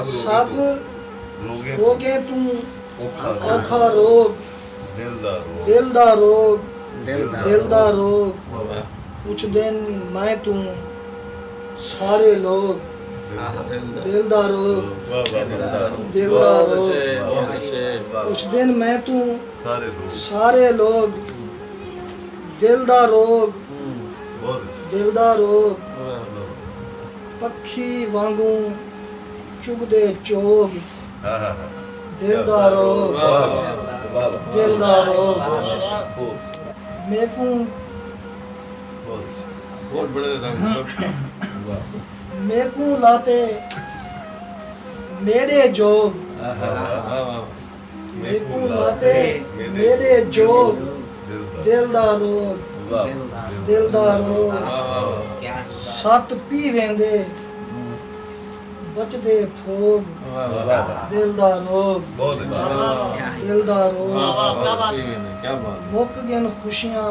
سب روگیں توں اوکھا روگ دل دا روگ دل دا روگ پوچھ دین میں توں سارے لوگ دل دا روگ دل دا روگ پوچھ دین میں توں سارے لوگ دل دا روگ دل دا روگ پکھی وانگوں چگدے چوگ دل دا روگ دل دا روگ میکوں میکوں لاتے میرے جوگ میکوں لاتے میݙے جوڳ دل دا روڳ دل دا روڳ ست پی ویندے بچدے پھوڳ دل دا روڳ دل دا روڳ مک ڳن خوشیاں